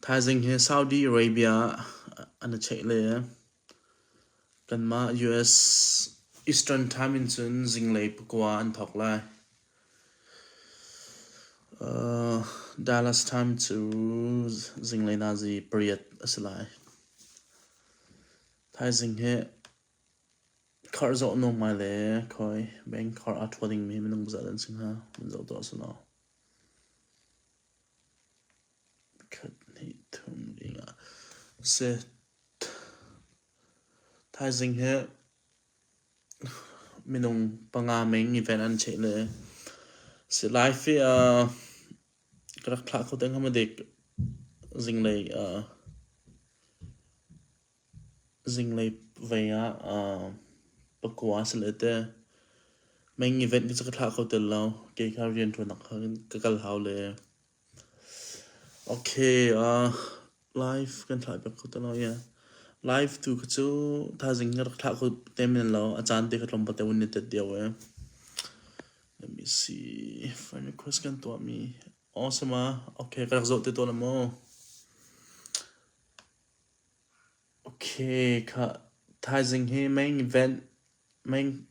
Thaizing hi Saudi Arabia an i check le kanmah US Eastern time in cun zinglei pakua an thawk lai. Dallas time cu zinglei nazi pariat a si lai. Thaizing hi khar zoh nung ngai le khawi bank khar aa thuat dingmi minung pasal an si hnga, an zoh tuah sulaw. Khat hnih thum dingah thaizing hi minung panga meng event an cheih le si lai fi ah ka rak thlah kho deng hamadik zinglei ah. Zinglei vei ah pakua si le te meingi ven cu ka thlah kho tel lo. Kei kha rianṭuanak ah khin ka kal hau le. Okay life kan thlah piak kho tel lo ie. Life tu kha cu thaizing ka rak thlah kho te men lo. A caan te kha tlawm pate hun i tet dio ee. Let me see. Final question kan tuahmi. Awesome. Okay ka rak zoh te tawn a maw? Okay, thaizing hi meng event,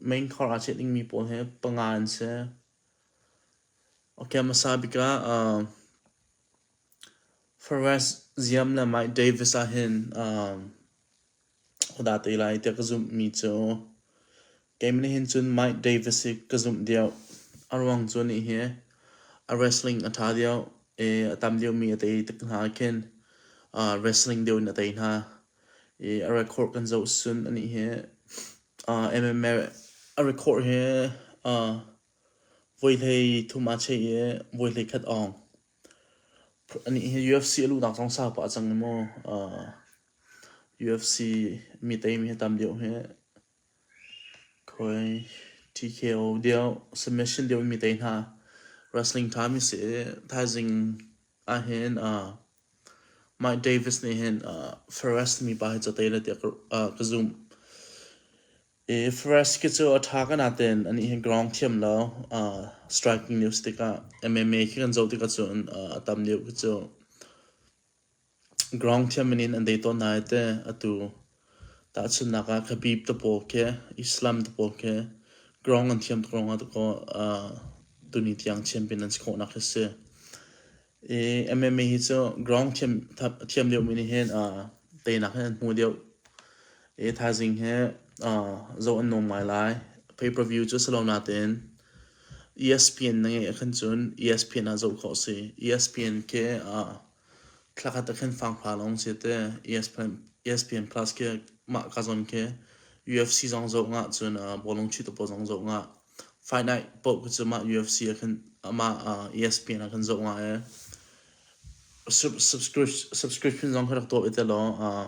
meng khor aa ceh dingmi pawl he panga an si. Okay, hmasa bik ah Forest Ziam le Mike Davis ahhin ka dah te lai tiah ka zumhmi cu Kei nih hin cun Mike Davis hi ka zumh deuh. A ruang cu nih hi a wrestling a ṭha deuh i a tam deuhmi a tei tik hna ah khin uh, wrestling deuh in a tei hna. I a record kan zoh sun a nih hi uh, MMA a record hi uh, voi hlei thum aa cheih i voi hlei khat awng. A nih hi UFC a luhnak zong sau pah cang i maw uh, UFC mi teimi hi tam deuh hi Koi TKO deuh, submission deuh mi tei hna. Wrestling time i si. Thaizing ahhin Mike Davis nih hin Ferrest mi pa hi cu tei le tiah ka zumh. I Ferrest khi cu a tha ka natein anih hi ground thiam lo. Striking news tikah MMA khi kan zoh tikah cun a tam deuh khi cu. Ground thiam in an dei tawn hna i teh atu tahchunhnak ah Khabib tapaw khi Islam tapaw khi ground an thiam tuk ruangah dakaw tuni tiang champion an si khawhnak hi a si. I MMA hi cu ground thiam thiam deuhmi nih hin teinak hin an hmu deuh. E thaizing he uh, zoh an nom ngai lai. Pay per view cu si lo natin ESPN na ngeih akhan cun ESPN ah zoh khawh si. ESPN ke uh, thlakhat akhan fang fa long si te ESPN, ESPN Plus ke mah ka zon ke UFC zong zoh nga cun uh, bolong chi topo zong zoh nga. Fight night po ku cu ma UFC akhan ama uh, ESPN akhan zoh nga e. Subscription subscription zong kharak to ite lo uh,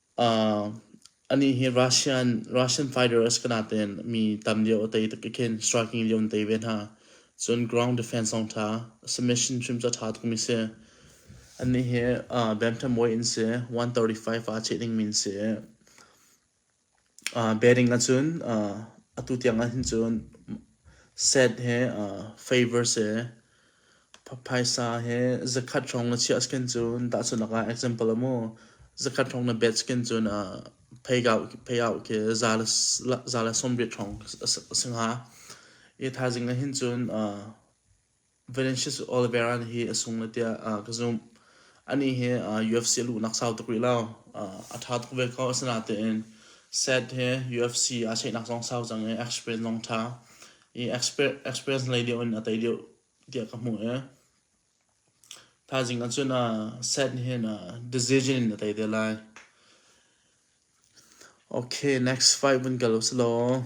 Anih hi Russian fighters kana tein mi tam lio a tei tuk i khin striking lio an tei ve hna. Cun ground defense zong ṭha, submission hrim cu a ṭha tukmi si. Anih hi bantamweight in si, 135 a cheh dingmi in si. Batting ahcun atu tiang ahhin cun set he favour si. Phaisa he zakhat hrawng na chiah skin cu tahchunak ah example a mu zakhat hrawng na bet skin cu na payout khi za le sawmriat hrawng a si hnga. Hi thaizing ahhin cun Venetius Oliveira nih hi a sung le tiah ka zumh. Anih hi UFC a luhnak sau tuk rih lo. A ṭha tuk ve ko. Asinain, set he UFC aa cheihnak zong sau cang i, experience zong ṭha. i experience lei deuh in a tei deuh tiah ka hmuh i thaizing ah cun set nih hin decision in a tei te lai okay next fight vun kal usilaw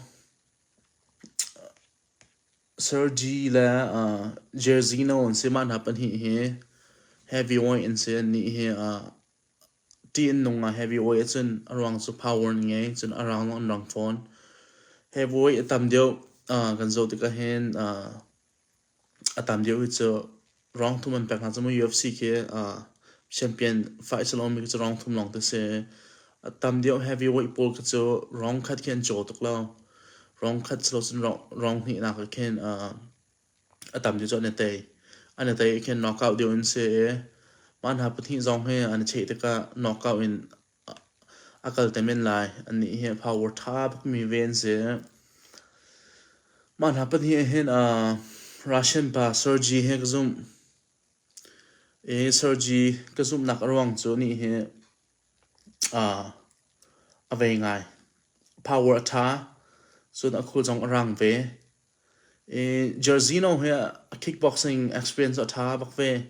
Sergi le uh, Jairzinho an si mah hna pahnih hi heavyweight an si an nih hi uh, ti an nung ah heavy oil ahcun a ruang cu power an ngei cun a rang zong an rang fawn. Heavy oil a tam deuh uh, kan zoh tikah hin uh, a tam deuh hi cu rang thum an pek hna cu mu UFC khi uh, champion fight salon mi khi cu rang thum lawng te si a tam deuh heavy oil pawl khi cu rang khat khi an caw tuk lo rang khat si lo cun rang hnih nak ah khin uh, a tam cu cu an i tei. An i tei ah khin knockout deuh in si i mah hna pahnih zong hi an i cheh tikah knockout in a kal te men lai. Annih hi a power ṭha tukmi ve an si. Mah hna pahnih ah hin aa Russian pa Sergey hi ka zumh. I Sergey ka zumhnak a ruang cu anih hi aa a vei ngai. Power a ṭha cun a khul zong a rang ve. Jersino hi a kickboxing experience a ṭha bak ve.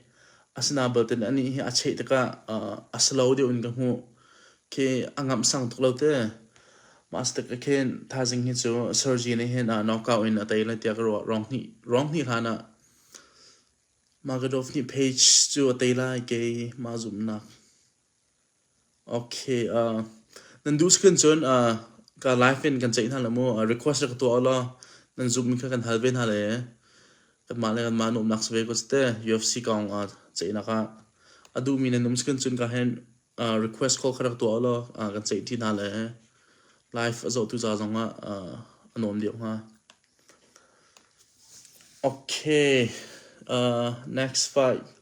Asinain belte anih hi a cheh tikah a slow deuh in ka hmuh. Khi a ngamh sang tuk lo te. Mah stik ah khin thaizing hi cu Sergi nih hin knockout in a tei lai tiah ka ruah. Ruang hnih hlan ah Magedov nih page cu a tei lai kei mah zumhnak. Okay, uh, nan duh sak in cun uh, ka live in kan ceih hna le mu. Uh, request rak ka tuah law nan Zoom in kha kan hal ve hna le kanmah le kanmah na umnak sa ve ko te UFC kong uh, ceihnak ah a duhmi nan um sak in cun ka hen uh, request call kha rak tuah law uh, kan ceih ṭi hna le live a zohtu ca zong ah uh, a nuam deuh hnga. Okay, uh, next fight.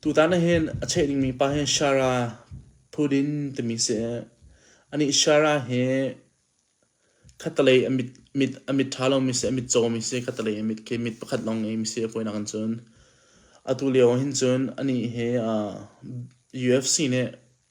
Tutan ahhin a cheh dingmi pa hi Shara Thudin timi si i anih Shara hi khattelei a mit ṭha lomi si, a mit cawmi si, khattelei a mit khi mit pakhat lawng ngeimi si a kuainak in cun. Atu lio ahhin cun anih hi UFC nih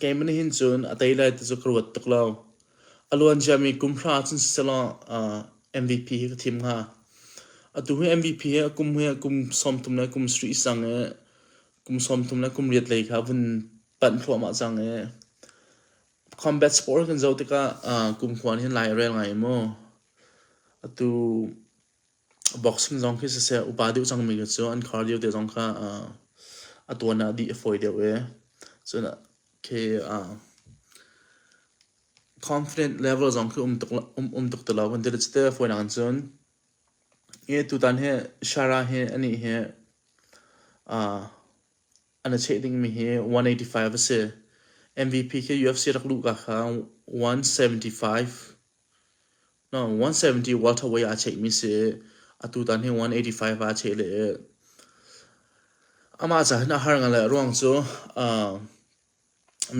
Keimah nih hin cun a tei le ti cu ka ruat tuk lo. A luanciami kum hra ah cun siselaw MVP hi ka thim hnga. Atu hi MVP hi a kum hi a kum sawmthum le kum sarih cang i kum sawmthum le kum riat lei kha a vun panh thluahmah cang i combat sport kan zoh tikah kumkhua nih hin lai a rel ngai maw? Atu Boxing zong khi siseh upa deuh cangmi cu an khar lio te zong kha uh, a tuan ah dih a fawi deuh i cun khi uh, confident level zong khi um tuk um, um tuk ti lo kan ti rih te fawi nak cun hi tutan hi Shara hi ani hi uh, an a cheh dingmi hi 185 a si MVP khi UFC rak luh ka kha 175 170 welterweight ah a cheihmi si atu tan hi 185 ah a cheh leh amah cahin a har ngan le a ruang cu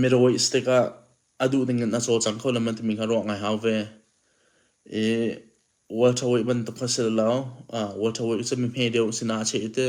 middleweight stick ah a duh ding in a caw cang kho le man timi kha ruah ngai hau ve i welterweight bantuk kha si lo welterweight cu mi hme deuh sinah a cheh i ti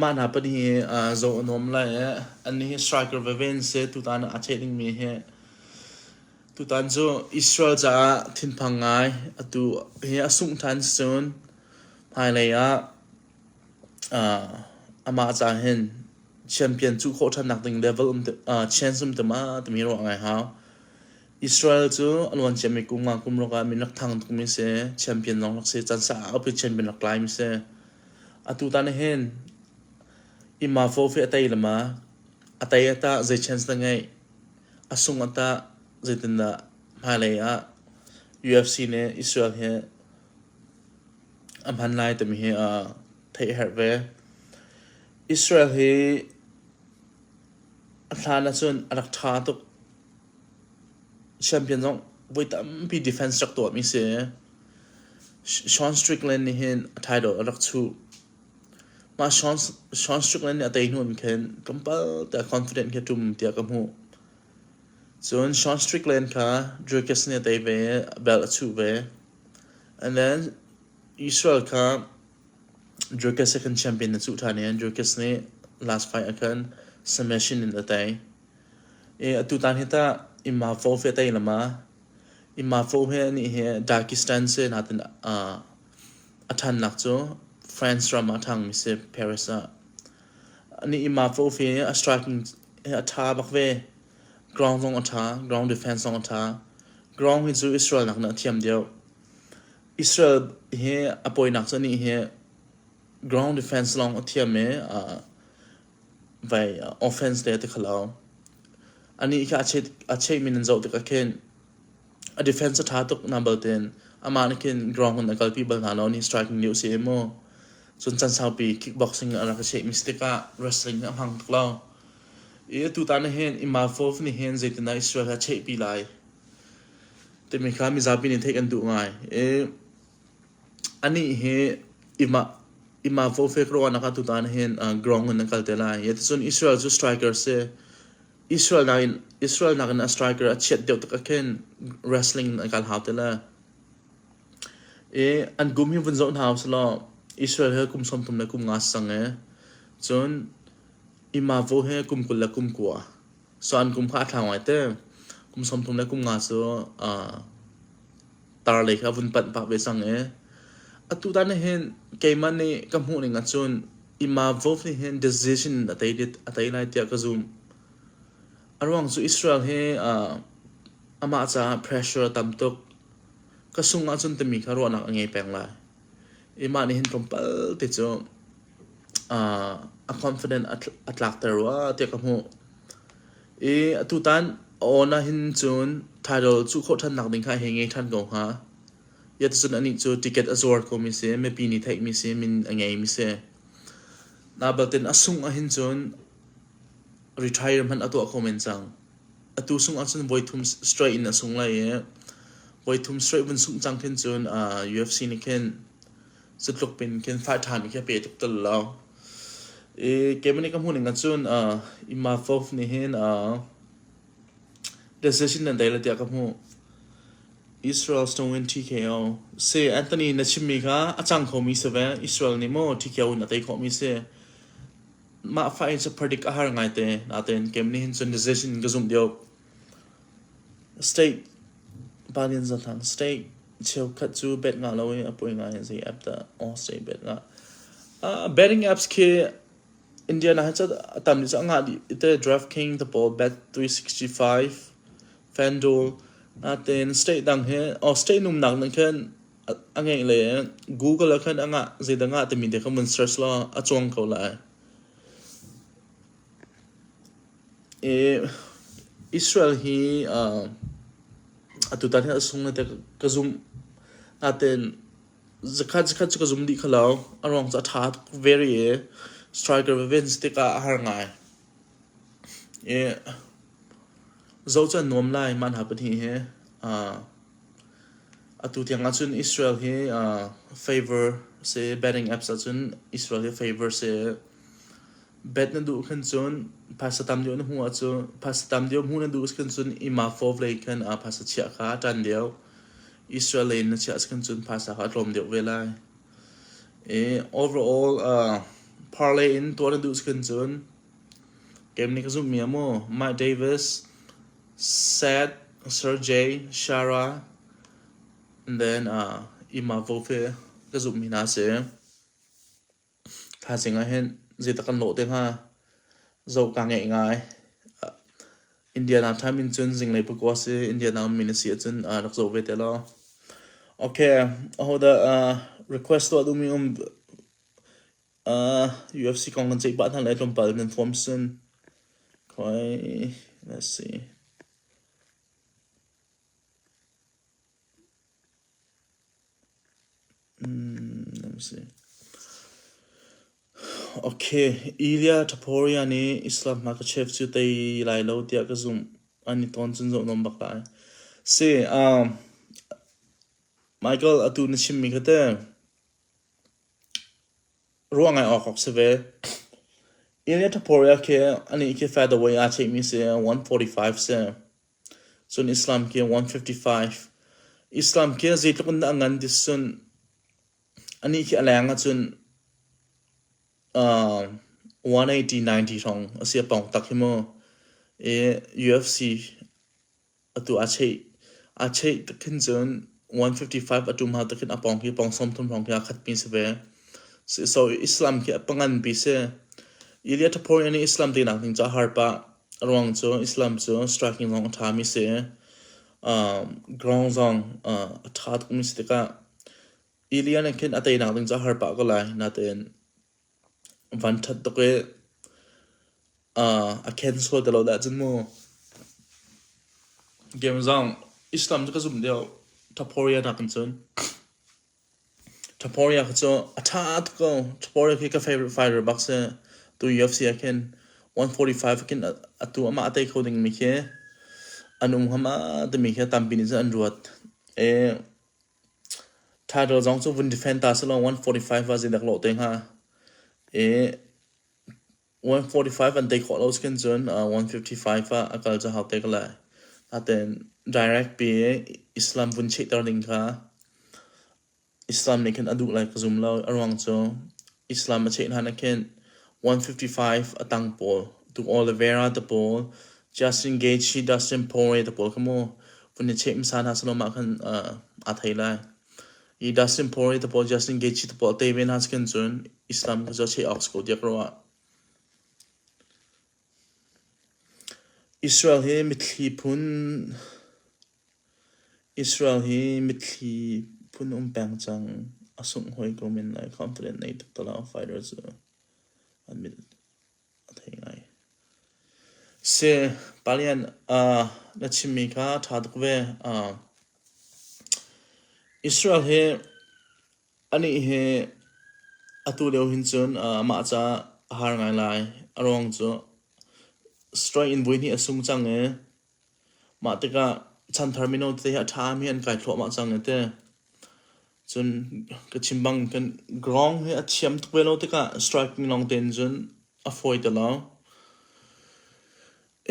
Mah hna pahnih hi zoh a nuam lai i annih hi striker veve an si. Tutan ah a ṭheh dingmi hi tutan cu Israel caah thinphang ngai atu hi a sungh ṭhan si cun hmailei ah amah ca hin champion cuh khawh ṭhannak ding level um te chance um te ma timi ruah ngai hau. Israel cu a luan ciami kum nga kum ruk ah min rak thang tukmi a si i champion lawng rak si. Can sa ah a upat champion rak tlaimi a si. Atu tan ah hin inn ma fawhfeh a tei le ma, a tei ah tah zei chance dah ngeih? A sung ah tah zeitindah hmailei ah UFC nih Israel hi a hman lai timi hi theih a herh ve. Israel hi a hlan ahcun a rak ṭha tuk. Champion zong voi tampi defense rak tuahmi si. Sean Strickland nih hin a title a rak chuh. Mah Sean, Sean Strickland nih a tei hnu in khin tlawmpal te confident khi a ṭum tiah ka hmuh. Cun Sean Strickland kha Dricus nih a tei ve i a belt a chuh ve. And then Israel kha Dricus he khan champion na chuh ṭhan i Dricus nih last fight ah khan submission in a tei. Atutan hi tah immafo hi a tei lo ma? Immafo hi anih hi Dagestan si natin a ṭhannak cu France ram ah a ṭhangmi si Paris ah. Anih immafo hi a striking hi a ṭha bak ve. Ground zong a ṭha, ground defence zong a ṭha. Ground hi cu Israel nak nih a thiam deuh. Israel hi a poinak cu anih hi ground defence lawng a thiam i Vai offense te a ti kho lo. Anih khi a cheh, a cheh mi nan zoh tikah khin a defense a ṭha tuk hna bal tin amah nih khin ground in a kalpi bal hna lo ni striking news i maw. Cun can saupi kickboxing in a rak i cheh mi si tikah wrestling hi a hmang tuk lo. I tutan nih hin Imavov nih hin zeitindah Israel hi a chehpi lai timi kha mizapi nih theih kan duh ngai. I Anih hi Ima Fofek ruahnak ah tutan hin ground in an kal te lai. Ticun Israel cu striker si. Israel nakin a striker a chiat deuh tak khin wrestling in an kal hau te le. I an kum hi vun zoh hna usih law Israel he kum sawmthum le kum nga sang i cun Ima Fo he kum kul le kum kua. So an kum kha a ṭha ngai te. Kum sawm thum le kum nga cu aa tar lei kha a vun panh pah ve cang i atu tan nih hin keimah nih ka hmuh ning ahcun Ima Wolf nih hin decision a tei a tei lai tiah ka zumh. A ruang cu Israel hi aa amah caah pressure a tam tuk. Ka sung ahcun timi kha ruahnak a ngei peng lai. Imah nih hin tlawmpal te cu a confident a tlakter rua tiah ka hmuh. I atutan a awn ahhin cun title cuh khawh ṭhan nakding kha hi ngei ṭhan ko hnga. Iatacun anih cu ticket a zuar komi si, mipi nih theihmi si, min a ngeimi si. Nabaltin a sungh ahhin cun retire hmanh a tuah kho men cang. Atu sungh ahcun voi thum straight in a sung lai i voi thum straight vun sungh cang khin cun UFC nih khin Cutluk pin khin five time khi pe tuk tel lo. I keimani ka hmuning acun uh, ima fof nih hin uh, decision nan dei le tiah ka hmu. Israel snowin TKO. Se Anthony na chimmi kha a cang khomi si ve. Israel nih mo TKO na tei khomi si. Mah fa in se predict a har ngai te. Naten keimani hin cun decision ka zumh diop. State pan in zat hlang. State cheukhat cu bet ngah lo i a poi ngai i zei app dah aw state bet ngah. Uh betting apps khi India na hacat a tam dih cu a ngah dih. Ite DraftKings tepawl bet three sixty five, FanDuel. Natein state dang hi aw state numnak nih khin a ngeih le Google ah khin a ngah. Zeidah ngah timi te kha mun search law a cuang ko lai. Israel hi atutan hi a sung nate ka zumh. Natein zakhat zakhat cu ka zum dih kho lo. A ruang cu a ṭha tuk veri i striker vevens tikah a har ngai. Zoh cu an nuam lai mah hna pahnih hi. Atu tiang ahcun Israel hi favour a si. Betting apps ahcun Israel hi favour a si. Bet na duh khan cun phasa tam deuh na hmuh ah cu phasa tam deuh hmuh na duh si khan cun i mafo vlei khan ah phasa chiah kha tan deuh Israel lei na chiah si khan cun phasa kha tlawm deuh ve lai i overall uh, parlay in tuah na duh si khan cun game ni ka zumh mi maw Mike Davis Sad Sergey Shara and then uh, ima vofe ka zumh mi hna si Thaizing ah hin zeidah kan lawh te hnga? Zoh kaa ngeih ngai. Indiana time in cun zinglei pakua si. Indiana ummi na si ahcun rak zoh ve te law. Okay, ahodah request tuah duhmi um UFC kong kan ceih pah hna lai tlawmpal in nan form sin. Khoi, let's see. Okay, Ilya Topuria nih Islam a ka chef cu tei lai lo tiah ka zumh. An i tawn cun zoh nawn bak lai. Si, um, Michael, atu na chimmi kha teh ruah ngai awk awk si ve. Ilya Topuria khi anih khi featherweight aa cheikmi si, 145 si. Cun Islam ke 155. Islam ke zeitluk in dah a ngan ti sun anih khi a leng ahcun uh, 180, 90 hrawng a si a pong tak hi mu. E UFC atu a cheih a cheih takhin cun 155 atum ha takhin a pong hi pong som thum hrawng khi a khat pi si ve. So Islam ke a pangan pi si. Ilia thapori ani Islam te nak ning ca harpa. A ruang cu Islam cu striking zong a ṭhami si i ground zong a ṭha tukmi si tikah i lian in khin a teinak ding cu a har pah ko lai. Nain van ṭhat tuk i a ken sual te lo dah cun mu. Game zong Islam cu ka zumh lio ṭhaphawrianak in cun Tuporiah khi cu a ṭha tuk ko. Tuporiah khi ka favourite fighter bak si. Tu UFC ah khin one forty-five a khin a tu amah a tei kho dingmi khi an um ngam ah timi khi a tampi nih cun an ruat. I title zong cu vun defend ta selaw one forty-five ah zeidak lawh te hnga. I 145 an tei khawh lo si kan cun uh, 155 ah a kal cu hau te ka lai. Natein direct pi Islam vun chehter ding kha Islam nih khin a duh lai ka zum lo. A ruang cu Islam a cheh hna nih khin 155 a tang pawl, Tuk Oliveira te pawl, Justin Gaethje, Dustin Poirier te pawl kha mu vun i cheh hmasa hna selaw mah khan uh, aa thei lai. I da simpori tapawl Justin Gaethje tapawl te ve hna cun cun Islam kha cu a cheh awk ko tiah ka ruah. Israel hi mitthli phun Israel hi mitthli phun um peng cang a sungh hoi ko men lai kham talen nei tak tala fighter cu an mit Seh palian na chimmi kha ṭha tuk ve. Israel hi anih hi atu lio hin cun mah ca a har ngai lai. A ruang cu strike in vui hnih a sung cang i Mah tikah chanthar mino tete hi a ṭhami an kai thluahmah cang a ti. Cun ka chim bang kan ground hi a thiam tuk ve lo tikah striking lawng tein cun a fawi te lo.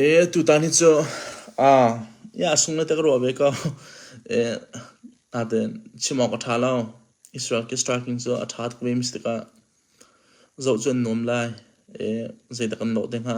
Ee tutan hi cu aa iah a sung le te ka ruah ve ko. Ee natein chim awk a ṭha lo. Israel ke striking cu a ṭha tuk ve mi si tikah zoh cu an nuam lai. Ee zeidah kan lawh te hnga?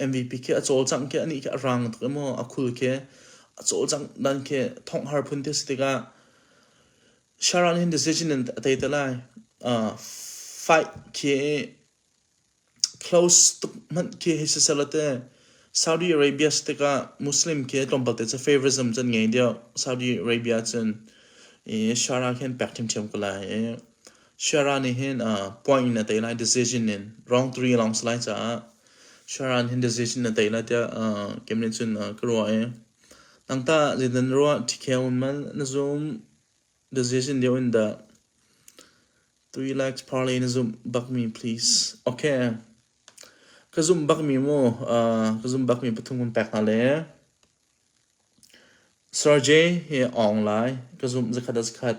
MVP khi a cawlcangh khi ani khi a rang tuk emaw a khul khi a cawlcangh dan khi thong har phun ti si tikah Sharon hin decision in a tei te lai uh, fight khi close tuk man khi hei si sela te Saudi Arabia stika Muslim khi tlawmpal te cha favorism chan ngei dia Saudi Arabia chan i Sharon hin back thim thiam ko lai Shara nih hin uh, point in a tei lai decision in wrong three long slai caah Shara nih hin decision na tei lai tiah uh, kem nih cun uh, ka ruah i nang ta zeitan ruah ṭhikhe un man na zoom decision deu in dah three legs parlay na zoom bakmi please okay ka zoom bakmi mu uh, ka zoom bakmi pathum kun pek hna le Sergey hi ong lai ka zoom zakhat zakhat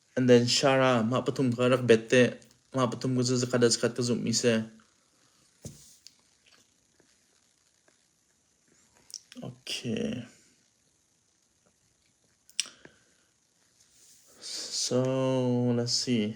And then Shara, mah pathum kha rak bet te. Mah pathum ku cu zakhat le zakhat ka zumhmi si. Okay. So, let's see.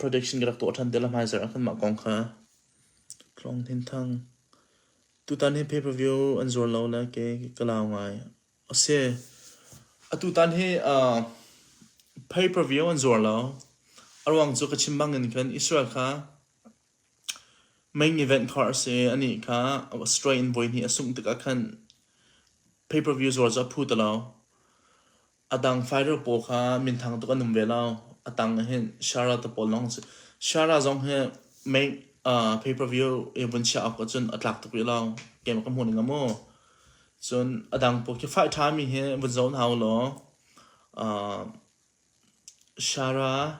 prediction ka rak tuah ṭhan te le hmaizarh ah kanmah kong kha Tlawng Hnin Thang tutan hi pay per view an zuar lo le ke ka lau ngai a si a tutan hi uh, pay per view an zuar lo a ruang cu ka chim bangin khan Israel kha main event kha a si ani kha Australia in voi hnih a sungh tikah khan pay per view zuar cu a phu ta lo A dang fighter pawl kha minthang tuk an um ve lo. A tang hi Shara te pawl lawng si. Shara zong hi mei uh, pay-per-view i vun chiah awk cun a tlak tuk rih lo. Game ka hmu ning mu. Cun a dang pawl khi fight ṭhami hi vun zoh hna u law uh, Shara,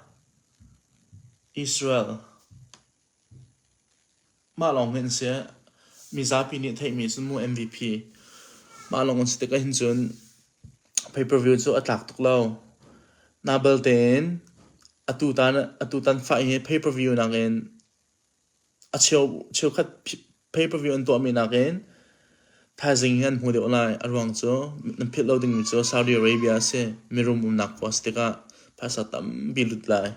Israel, Mah lawng hme an si ah mizapi nih theihmi cu mu MVP. Mah lawng an si tik ahhin cun pay-per-view cu a tlak tuk lo. Nabal tein atutan fah hi pay-per-view nakin a cheu cheukhat pay-per-view an tuahmi nakin thaizing hi an hmu deuh lai. A ruang cu nan philh lo dingmi cu Saudi Arabia a si. Mirum umnak khua a si tikah phaisa tampi lut lai.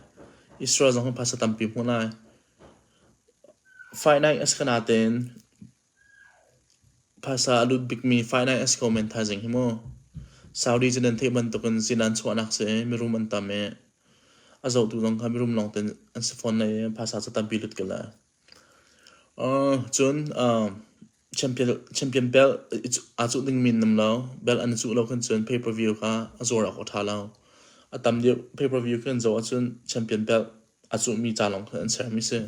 Israel zong phaisa tampi hmu lai. Finite a si ko nain phaisa a lut bikmi finite a si ko men thaizing hi mu. Saudi cu nan theih bantukin zinaan chuahnak si i mirum an tam i a zohtu zong kha mirum lawngte an si fawn lai i phaisa cu tampi lut ko lai. Cun champion belt aa cuh dingmi an um lo. Belt an i cuh lo khin cun pay-per-view kha a zuar awk a ṭha lo. A tam deuh pay-per-view khi an zoh ahcun champion belt a cuhmi ca lawng kha an sermi a si.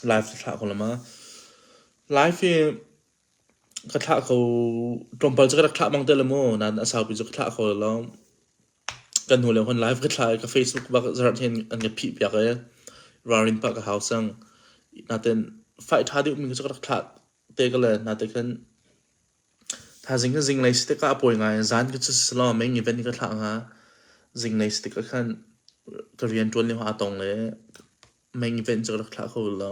Life a thlah ko lama. Life hi Ka thlah kho, tlawmpal cu ka rak thlah bang te le maw, nain a saupi cu ka thlah kho lo lawm. Kan hnu leng hun live ka thlah i ka Facebook bak zarh hin an ka phih piak i ralrin pah ka hau cang. Natein faih ṭha deuhmi cu ka rak thlah te ko le, natein khan thaizing cu zinglei si tikah a pawi ngai. Zan cu cu si law main event i ka thlah hnga. Zinglei si tikah khan ka rianṭuan lio ah a tong i main event cu ka rak thlah kho lo.